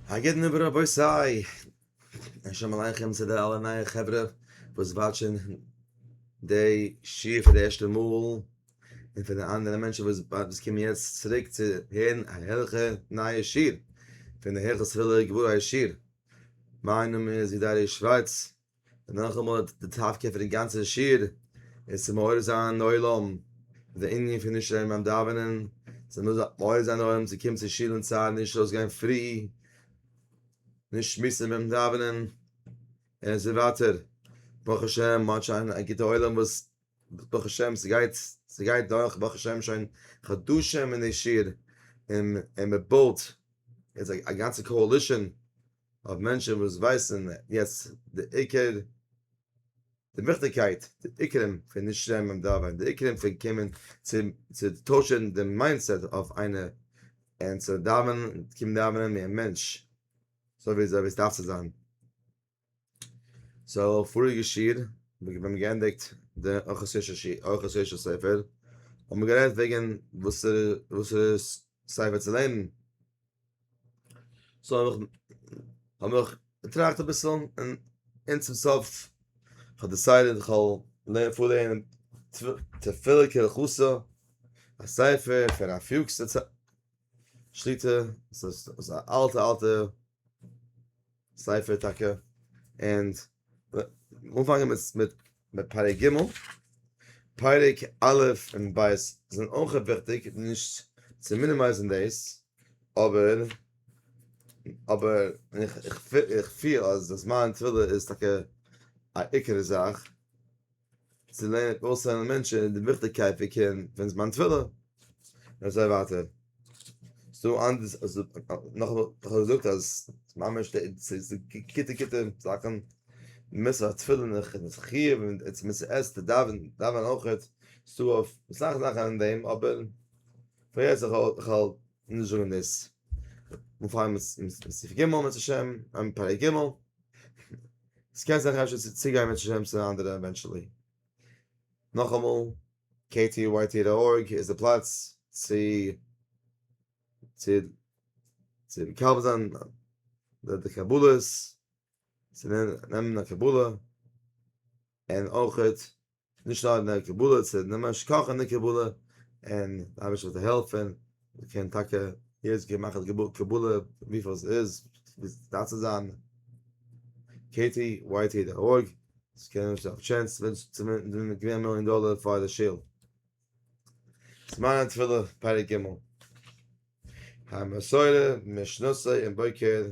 א גוטן אויף רבותי! און שלום עליכם צו די אלע נייע חברה וואס וואטשען די שיעור פאר די ערשטע מאל, און פאר די אנדערע מענטשען וואס קומען יעצט צוריק צו הערן א הערליכע נייע שיעור פון די היכל סגולה גבוה הישיר, מיין נאמען איז ווי דער ר' שווארץ און נאכאמאל האט די טאפקע פון די גאנצע שיעור איז צו מעורר זיין עולם די ענין פון נישט לערנען ביים דאווענען, זיי מוזן מעורר זיין עולם צו קומען צו שול אין צייט, נישט ארויסגיין פרי, נישט שמועסן ביים דאווענען, און אזוי ווייטער. ברוך השם מ'האט שוין א גוטע עולם וואס ברוך השם ס'גייט ס'גייט דורך ברוך השם שוין חדשים אין די שיעור, און מ'בויט יעצט א גאנצע קאאלישען. אויף מענטשן וואס ווייסן יעצט די עיקר די וויכטיגקייט די עיקרים פון נישט שרייבן ביים דאווענען די עיקרים פון קומען צום צו טוישן די מיינדסעט אויף איינער און צו דאווענען און קומען דאווענען ווי א מענטש אזוי ווי אזוי ווי עס דארף צו זיין סאו פאריגע שיעור ווען מיר האבן געענדיגט די ארחות יושר שיעור ארחות יושר ספר האבן מיר גערעדט וועגן וואסערע וואסערע ספר צו לערנען זאל איך האב איך געטראכט אביסל און אין צום סוף האט די סייד איך האב לערן פאר לערנען תפילה כרחוסה א ספר פון א פיוקס שליטה עס איז א אלטע אלטע ספר טאקע און אנפאנגען מיט מיט פרק ג', פרק א' און ב' זענען אויך וויכטיג נישט צו מינימייזן דאס, אבער אבער איך פיל אז זמן תפילה איז טאקע א עיקר זאך. צו לערנען און אויסלערנען מענטשן די וויכטיגקייט פון קערן פון זמן תפילה, און אזוי ווייטער. נאך האב איך געזאגט אז ממש ס'איז גוטע גוטע זאכן, מ'מוז זיך תפילין און זיך חיוב און מ'מוז זיך עסט און דאווען דאווען אויכעט, ס'דא אויף אסאך זאכן אין דעם אבער פאר יעצט כ'וועל נישט זאגן דאס, מ'פארט אים סי' ג' בעזרת השם, פרק ג'. עס קען זיך אפשר צו צוגיין מיט שמשון און אנדערע עווענטשעלי. נאכאמאל, ktyt דאט ארג איז די פלאץ צו צו מקבל זיין די קבלות, צו נעמען א קבלה, און אויכעט נישט נאר אין די קבלה צו נעמען שכח אין די קבלה, און די אייבערשטער זאל העלפן, מען קען טאקע יעצט גיין מאכן די קבלה וויפיל עס איז, ווי עס דארף צו זיין, קעי טי וויי טי דאט ארג, עס קען האבן א טשענס צו געווינען א מיליאן דאלער פאר די שול. זמן התפילה, פרק ג', המסורה, משנתו און בוקר.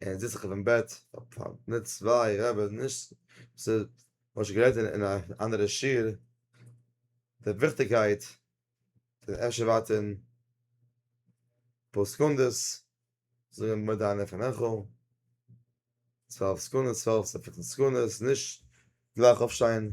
ער זיצט זיך אויפן בעט, מיט צוויי רעבעס, נישט, ס'איז, מ'האט שוין גערעדט אין א אנדערע שיעור, די וויכטיגקייט פון אפשר ווארטען אפאר סעקונדעס, זאגען מודה אני לפניך, צוועלף סעקונדעס, צוועלף סעקונדעס, נישט גלייך אויפשטיין.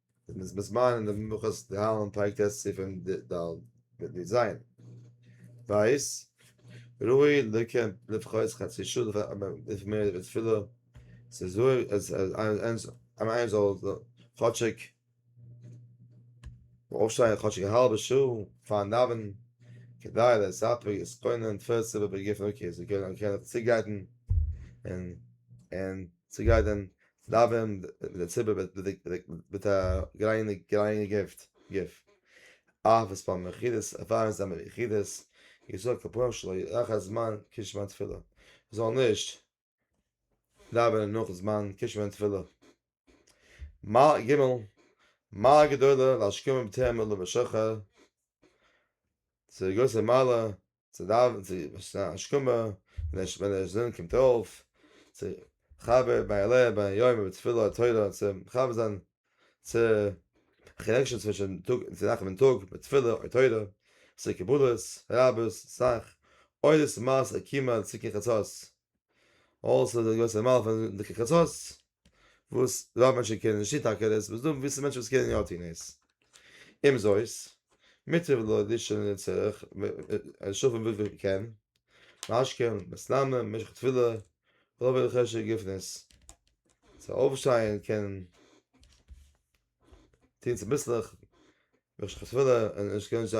דער מזמן אין דעם מנחת דהאלם פרק טז סימן ד מיט ניט זיין ווייס ראוי לקיים לפחות חצי שעה לפ מ לפ מ די תפילה ס'איז ראוי אז אז איינער זאל כאטשיג אויפשטיין כאטשיג א האלבע שעה פארן דאווענען כדי לספק דאס קוינען תפלה צו באגריפן אקעי זיי קענען צוגרייטן און און צוגרייטן דאווען מיט די ציבור וועט בדוק מיט א גרייניגע גוף. אהב את פארן יחידות עבר אין זעמער יחידות יזעק כפוים שלא יאחר זמן קידוש זמן תפילה מ'זאל נישט דאווענען נאך זמן קידוש זמן תפילה. מעלה ג' מעלה גדולה להשכימם תהא מלוה שחר ס'איז א גרויסע מעלה צו דאווענען צו עס איז השכמה און ווען דער זון קומט אויף צו חבר ביי עלה ביי יומא בתפילה תורה צו מחבר זיין צו קאנעקשאן צווישן טאג צו נאכט און טאג מיט תפילה און תורה צו קבלות רבות סאך אויב עס איז מעשה קימא צו קרן חצות אויסער די גרויסע מעלה פון די קרן חצות. וואס רוב מענטשן קענען נישט טון טאקע דאס וואס דא וויסן מענטשן וואס קענען יא טון עס אומזויסט מוטב לו לישון אין צורך און שלאפן וויפיל מען קען משכים מסלמים במשך תפילה רוב אלה חשק גופנית צו אויפשטיין קען טון צוביסלעך ווען כ'האב תפילה און איך קען נישט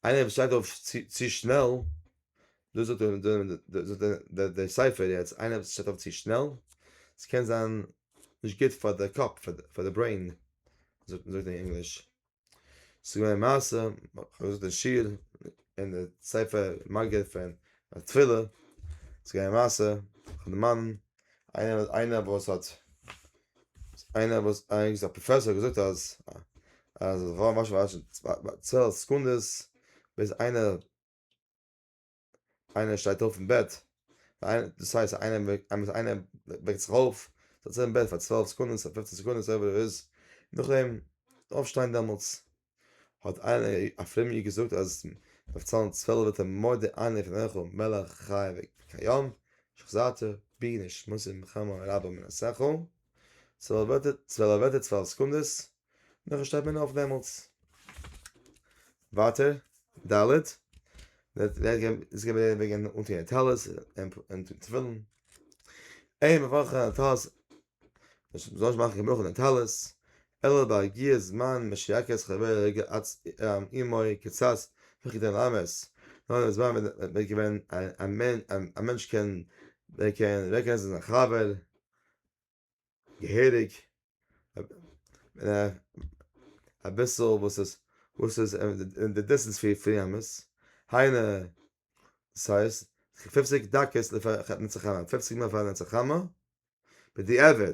איינער וואס שטייט אויף צו שנעל, דאס זאגט דער ספר יעצט, איינער וואס שטייט אויף צו שנעל, עס קען זיין נישט גוט פאר די קאפ, פאר די ברעין, זאגט מען אין ענגליש, ס'איז געווען א מעשה, כ'האב געזאגט אין שיעור, אין די ספר מג א פון תפילה, ס'איז געווען א מעשה, כ'האב דערמאנט איינער וואס האט. איינער וואס איינגעס א פראפעסאר געזאגט אז אז וואו מאשן וואשן צעל סעקונדעס ביז איינער איינער שטייט אויף אין בעט איינער דאס הייסט איינער איינער איינער וועקט זיך אויף זיצט אין בעט פאר צוועלף סעקונדעס אדער פופצן סעקונדעס אויב ער איז נאכדעם אויפשטיין דעמאלטס. האט איינער א פרומער איד געזאגט אז מ'דארף צאלן צוועלף וועט ער מודה אני לפניך מלך חי וקיים שחזרתי בי נשמתי ממחמה רבה מן השכל, צוועלף ווערטער צוועלף ווערטער צוועלף סעקונדעס, נאכדעם שטייט מען אויף דעמאלטס. ווייטער ד' איז געווען וועגן אנטוהן טלית און תפילין, אין מברכים על הטלית, מ'זאל נישט מאכן קיין ברכה אויף די טלית, אלא בהגיע זמן משיעקץ חבר רגע אץ אימוי קצת וכי תן למס, נאר אין די זמן ווען מען איז געווען א מענטש קען רעקאגנעזן זיין חבר געהעריג, אביסל וואס איז וואס איז אין די דיסטענס פון ימות, היינו דאס הייסט פופציג דקות לפני חתן צו חמה, פופציג מינוט פאר נצח חמה, בדיעבד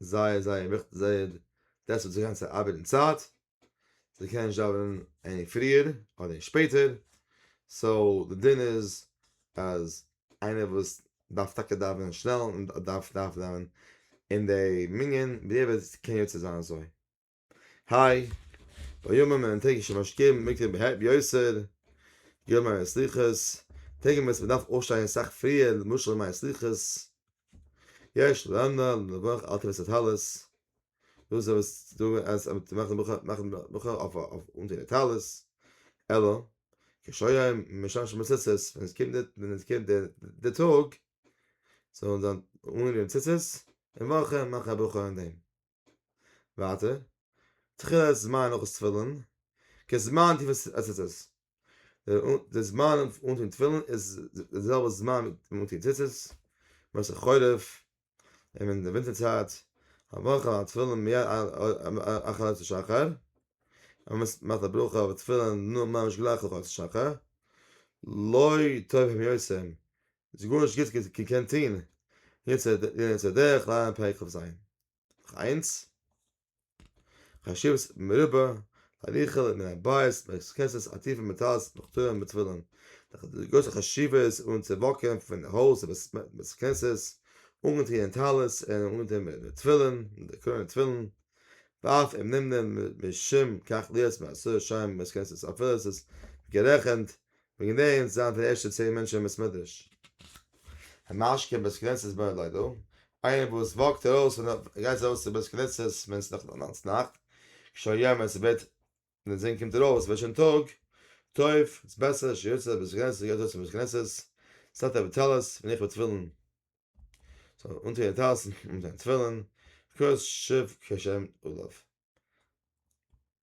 זייער זייער וויכטיג זייער דעס וואס זיי גייען צו ארבעט אין צייט זיי קענען נישט דאווענען עני פריער אדער אין שפעטער סאו די דין איז אז איינער וואס דארף טאקע דאווענען שנעל און דארף דארף דאווענען אין די מנין בדיעבד קען יוצא זיין אזוי. היי, בימים ההם טרעג איך שוין משקים, מקרב ב ה ביותר, געהויבן מיינע סליחות, טעג ווען ס'באדארף אויפשטיין סאך פריער למשל מיין סליחות, יש ל נ ל נבח אלטע וועסט טלית, דאס איז וואס דא אז מ'טאר מאכן ברכה מאכן ברכה אויף אנטון די טלית, אלא קשיים משמשים בציצית, ווען עס קומט די ווען עס קומט די די טאג, זאל מען זיין אנגענומען ציצית, און וועלכע מאכן א ברכה אין דעם. ווייטער, תחילת זמן נאך תפילין, כזמן תפילת ציצית, די זמן אנטון תפילין איז די זעלבע זמן ווי אנטון ציצית, משא כ חורף, און אין די ווינטער צייט, הברכה על התפילין מיד אחר עלות השחר, מ'מאכט א ברכה אויף תפילין ממש גלייך אויף עלות השחר, לא טוב הם יוצאים איז גארנישט גוטס געקענט טוהן, יעצט זע דורך לייען פרק כ ז, נאך איינס, חשיבות מרובה להליכה מן הבית בכסות עטיפה מטלית בכתרים בתפילין, די גרויסע חשיבות אן צו וואקען פון הויז בית כנסת אנגעטוען אין טלית און אנגעטוען מיט די תפילין, די קרוין און תפילין, ואף אם נמנע משום כך להיות מעשרת שיירים בבית כנסת אפילו עס איז גערעכענט בין געווען צו זיין פון די ערשטע צען מענטשן אין בית מדרש המשקה אין בית כנסת באר ליידא, איינער וואס וואקט ארויס פון די גייט ארויס צו בית כנסת ווען ס'איז נאך נאנץ נאכט, שוין יום ווען ס'ווערט ווען די זון קומט ארויס ווערט שוין טאג, טוב, ס'איז בעסער שיוצא לבית כנסת גייט ארויס צום בית כנסת, סטארט אוועק טלית ווען איך וועל טביל'ן זאל אנטוען טלית און אנטוען טביל'ן, כוס שב כ שעמט אליו.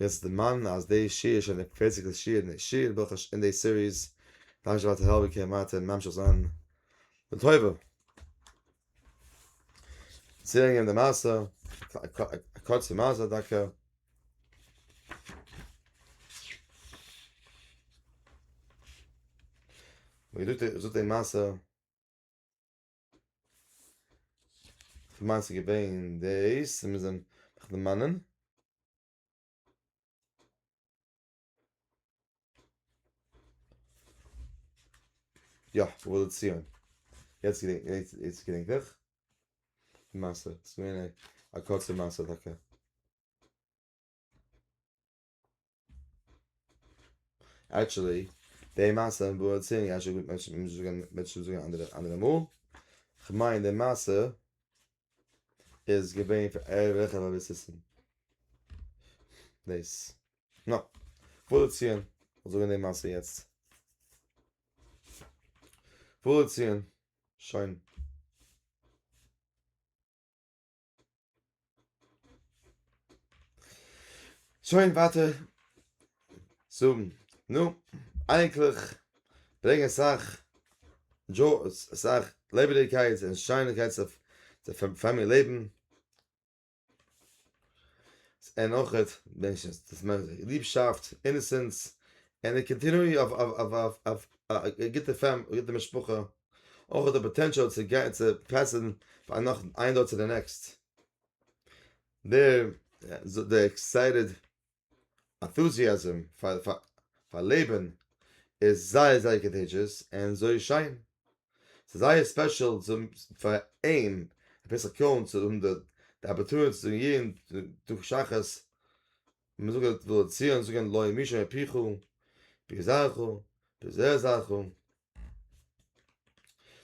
וועסט דערמאנען אז די שיעור איז שוין די פערציגסטע שיעור אין שיעור ברכות אין די סיריס, דאנק שוין ווייטער העלפן קען ווייטער ממשיך זיין לטובה. צוברענגען די מעשה, א קורצע מעשה דוקא. ווי געזאגט די מעשה. כ'מיין ס'איז געווען דאס, און מ'זען זיך דערמאנען. יא, ובא לציון. יעצט געדענק איך, יעצט געדענק איך. די מעשה, ס'איז געווען א קורצע מעשה טאקע. עקטשעלי, די מעשה וואס מיר דערציילן יעצט וועט מענטשן זאגן א אנדערע מאל. כ'מיין די מעשה איז געווען פון ערליכע באביסיסן. דאס. נא. פאדערציען. כ'וועל זאגן די מעשה יעצט. פאדערציען. שוין. שוין ווייטער זאגן נו איינקליך ברענג אסאך דזשאו אסאך לעבעדיגקייט און שיינערקייט צו צו פארמיר לעבן און אויכעט מענטשנס דאס מיינט ליבשאפט איניסענס און א קאנטינוי אויף אויף אויף א גוטע פאם א גוטע משפחה אויך האט ער פאטענשאל צו גיין צו פעסען פאר נאך איין דור צו די נעקסט דער דער עקסייטעד ענטוזיאזם פאר פאר לעבן איז זייער זייער קאנטעדזשעס און זוי שיין ס'איז זייער ספעשעל צו פאר אים אביסל קעלן צו האבן די די אפערטוניטי צו גיין דורך שחרית מען זאגט ולציון זאגן לא ימישו מפיך פי זרחו פי זרחו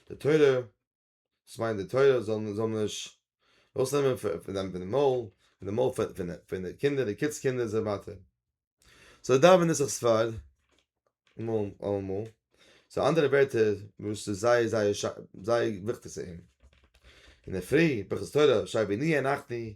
די תורה, דאס מיינט די תורה זאל זאל נישט ארויסנעמען פון דיין פון די מויל, פון די מויל פון פון די קינדער, די קינדס קינדער און אזוי ווייטער. סאו דאווען איז זיך ספרד אמאל אמאל, סאו אנדערע ווערטער וואס איז זייער זייער זייער וויכטיג צו אים. אינדערפרי, ברכות תורה, שי ווי ניע נחני,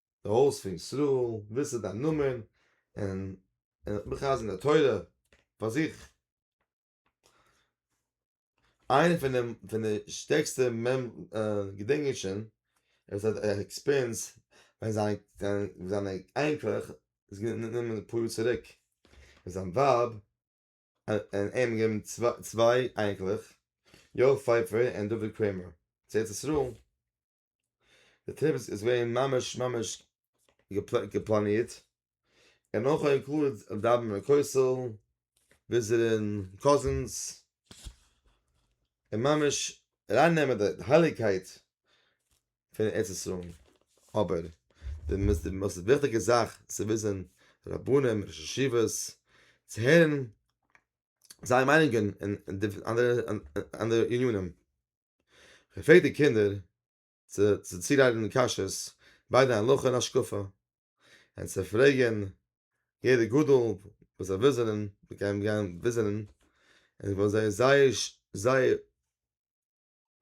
די הויז פון ישראל, וואס איז דיין נאמען, און און איך בין חזן דער תורה פאר זיך. איינע פון די פון די שטערקסטע מעמ געדענק איך שוין עפעס א עקספיריענס ווען זיין זיינע איינקלעך איז גענומען אפאר יאר צוריק און זיין ווייב און אים געבן צוויי צוויי איינקלעך יואל פייפער און דוד קרעמער צו ארץ ישראל. די טריפ איז געווען ממש ממש געפלאנירט, און אויך אינקלוד דאווענען אין כותל, וויזיטען קאזינס, און ממש ארייננעמען די הייליגקייט פון ארץ ישראל, אבער די מאסט וויכטיגע זאך צו וויזען רבנים ראשי ישיבות, צו הערן זייער מיינונגען אין אנדערע ענינים. געפרעגט די קינדער צו צוריידן קשיות ביידע הלכה און השקפה, און צו פרעגן יעדע גדול וואס זיי וויזענען, מיר גייען גיין וויזענען, און וואלט זיי זייער זייער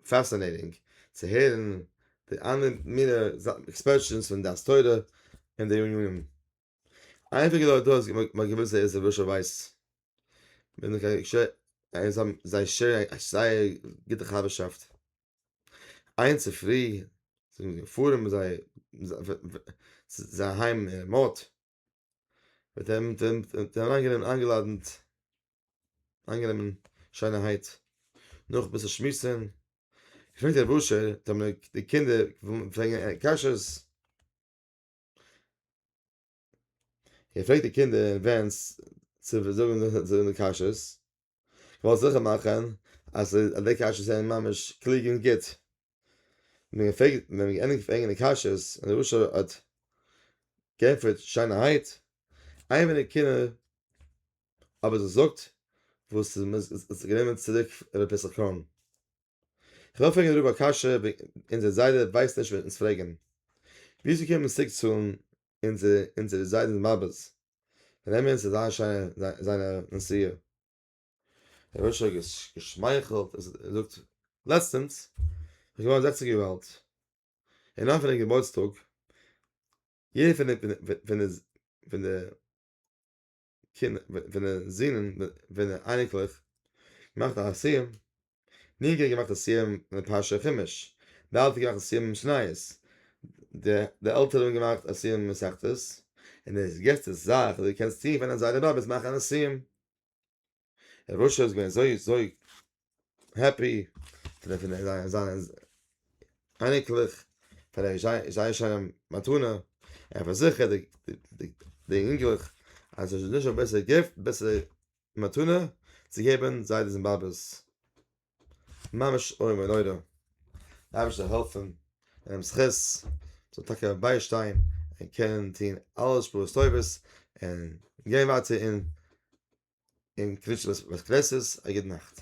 פעסינעטינג צו הערן די אלע מיני עקספערשענס פון דעת תורה און די ענינים. אייביג איז דארט דא אז מ'האט געוואוסט זייער זעלבערישע ווייס מיר זענען קיין ש און זיי האבן זיי שערן א א זייער גוטע חבר'שאפט איין צופרי זענען מיר געפארן מיט זיי זיי אהיים אין מאט מיט אים און אריינגענומען איינגעלאדענט איינגענומען שיינערהייט נאך אביסל שמועסן געפרעגט רבוש ע די קינדער פרעגן קשיות. ער פרעגט די קינדער אין ווענס צו זאגן די קשיות, כ'וועל זיכער מאכן אז די קשיות זענען ממש קלוג און גוט, ווען מ'פרעגט ווען מ'געענדיגט פרעגן די קשיות און די רשע האט גענטפערט שיינערהייט, איין פון די קינדער אבער זאגט וואס איז גענומען צוריק ר' פסח קאהן. כ'וועל פרעגן דעם רב א קשיא וועגן אונזער זיידע ווייסט נישט ווען אונז פרעגן ווי צו קומען צוריק צאלן אונזער אונזערע זיידענס מאבעס ווען נעמען אונז אזא שיינע זיינע נסיעה ר' אשר האט געשמייכלט און זאגט לעצטענס איז געווארן זעכציק יאר אלט און אויף זיין געבורטסטאג יעדער פון די פון די פון די ווענע זינען ווענע אייניקלעך געמאכט א סיום ני גער געמאכט א סיום אין פרשה חומש די אלטע געמאכט א סיום אין משניות די עלטערע האבן געמאכט א סיום אין מסכתות און עס געסטע זאך די קענסט טיען ווען אזא רבי וועט מאכן א סיום. און רשע איז געווען אזוי אזוי העפי פון די פון זיין זיין אייניקלעך פאר די זייער שיינע מתנה ער פארזיכערט די די די אינגלעך אז עס איז נישט א בעסערע גיפט בעסערע מתנה צו געבן זיידעס און באבעס. ממש איום ונורא, די אייבערשטער זאל העלפן אינעם זכות, זאל טאקע ביישטיין און קענען טון אלע שפרות טובות און גיין ווייטער אין קרית שמש בית כנסת, א גוט נאכט.